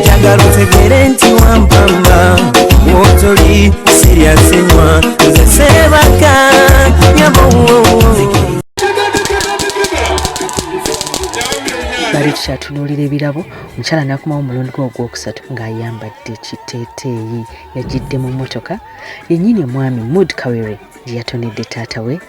njagala otegere nti wampamba wotoli siryasenywa nze sebaka nyabo bali tukyatunuulira ebirabo omukyala nakomawo omulundi gwe ogwokusatu ng'ayambadde ekiteeteeyi yagidde mu mmotoka yennyini omwami mood kawere gye yatonedde taata we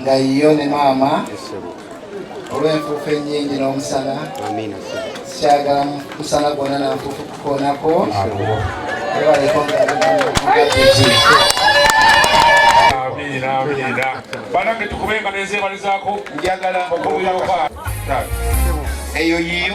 nga yiyo ne maama olw'enfuufu ennyingi n'omusana sikyagala musana gwonna nanfuufu kukoonako ebaleko banange tukube nga nezebalizaako njagala okumuyooka eyo yiyo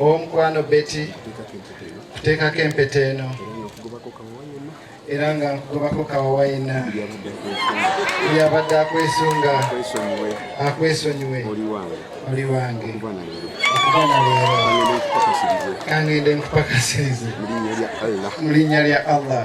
Owomukwano Betty kuteekako empeta eno era nga nkugobako kawawa yenna yabadde akwesunga akwesonyiwe oli wange okuba na leero kangende nkupakasirize mu linnya lya allah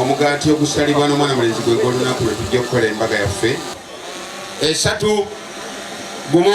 omugaati ogusalibwa n'omwana mulenzi gwe gw'olunaku lwe tujja okukola embaga yaffe esatu gumu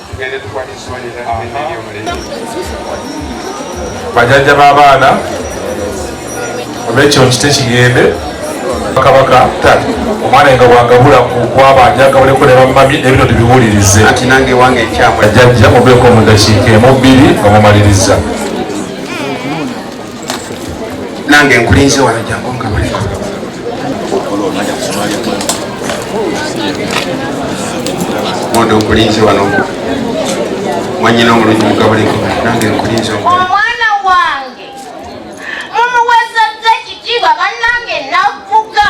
tugende tukwate essowaani ezaaeri omulembe bajajja b'abaana olwekyo nkite kigende kabaka tata omwana nga bwagabula kukwaba njagabuleko ne bamami ebino tibiwulirize ati nange wange ekyamwe jajja mubeeko mu ddakiika emu bbiri nga mumaliriza nange nkulinze wano jangu nkabaleko mondo nkulinze wano mwanyina omulungi mukabuleko nange nkulinze omwana wange mumuwezezza ekitiibwa bannange navuga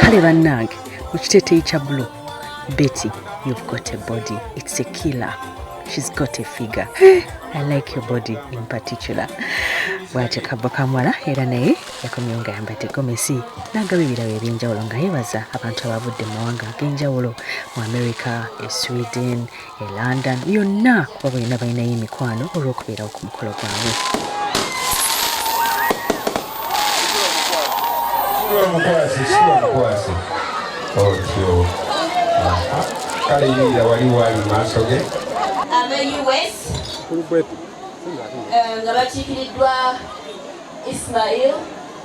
kale bannange mu kiteteyi kya bulo betty you've got a body it's a killer she's got a figure eh, i like your body in particular bwatyo kabbo kamwala era naye yakomyewo nga yambadde gomesi n'agaba ebirabo ebyenjawulo nga yebaza abantu abavudde mu mawanga ag'enjawulo mu america e sweden e london yonna kuba balina balinayo emikwano olw'okubeerawo ku mukolo gwabwe otyo kale yingira wali waali maaso ge abeus eh, nga bakiikiriddwa ismail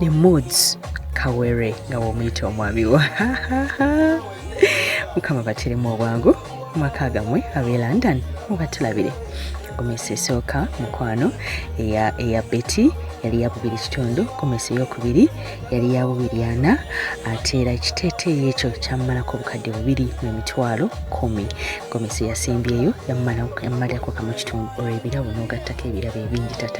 the moods kawere nga womuyita omwami wa mukama bateremu obwangu mumaka gamwe abe london mubatulabire gomesa esooka mukwano eya, eya beti yali yabubiri kitundu gomesa eyokubiri yali yabubiri ana ate era ekiteeteeyi ekyo kyamumalako obukadde bubiri nemitwalo kumi gomesa eyasembyeyo yamumalako kamu kitundu olwebirabo nogattako ebirabo ebingi tata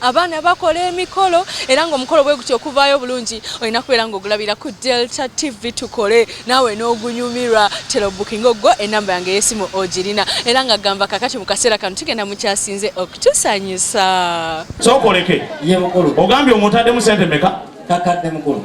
abaana bakola emikolo era ng'omukolo bwe gutyo okuvaayo obulungi olina kubeera ng'ogulabira ku delta tv tukole naawe n'ogunyumirwa tera obukinga ogwo enamba yange eyesimu ogirina era nga gamba kakati mu kaseera kano tugenda mukyasinze okutusanyusa sookoleke ogambye omutaddemu sente meka kakadde mukulu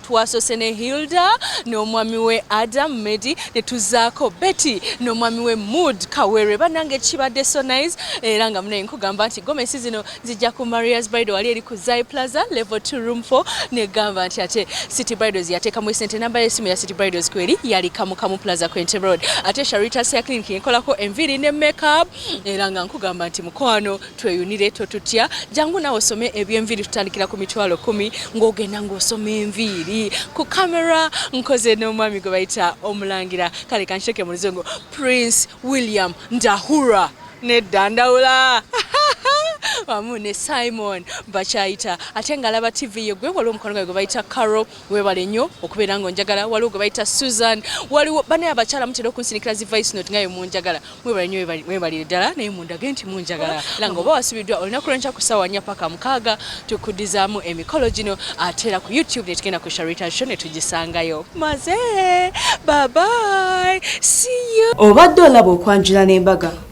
twasose ne Hilda n'omwami we Adam Medi ne tuzaako Betty n'omwami we Mood Kawere banange kibadde so nice era nga munaye nkugamba nti gomesi zino zijja ku Maria's Bridal wali eri ku Zai Plaza level 2 room 4 ne gamba nti ate City Bridals yateeka mu sente namba y'essimu ya City Bridals kweri yali Kamu Kamu Plaza ku Entebbe Road ate Sharita Hair Clinic yenkolako enviiri ne makeup era nga nkugamba nti mukwano tweyunire totutya jangu nawe osome ebyenviiri tutandikira ku mitwalo kumi ng'ogenda ng'osoma enviiri ku kamera nkoze n'omwami gwe bayita omulangira kale kansheke mu luzungu prince william ndahura nedda ndawula wamu ne simon bakyayita ate ng'alaba tv ye gwe waliwo omukwano gwae gwe bayita carol webale nnyo okubeera nga onjagala waliwo gwe bayita susan waliwo bane abakyala mutera okunsinikira zi vice note ngaye munjagala mwebale nnyo mwebalire ddala naye mundage nti munjagala era nga oba wasubiddwa olunaku lwenkya ku ssaawa nnya paka mukaaga tukuddizaamu emikolo gino ate era ku youtube ne tugenda ku sharita show ne tugisangayo maze babai siyo obadde olaba okwanjula n'embaga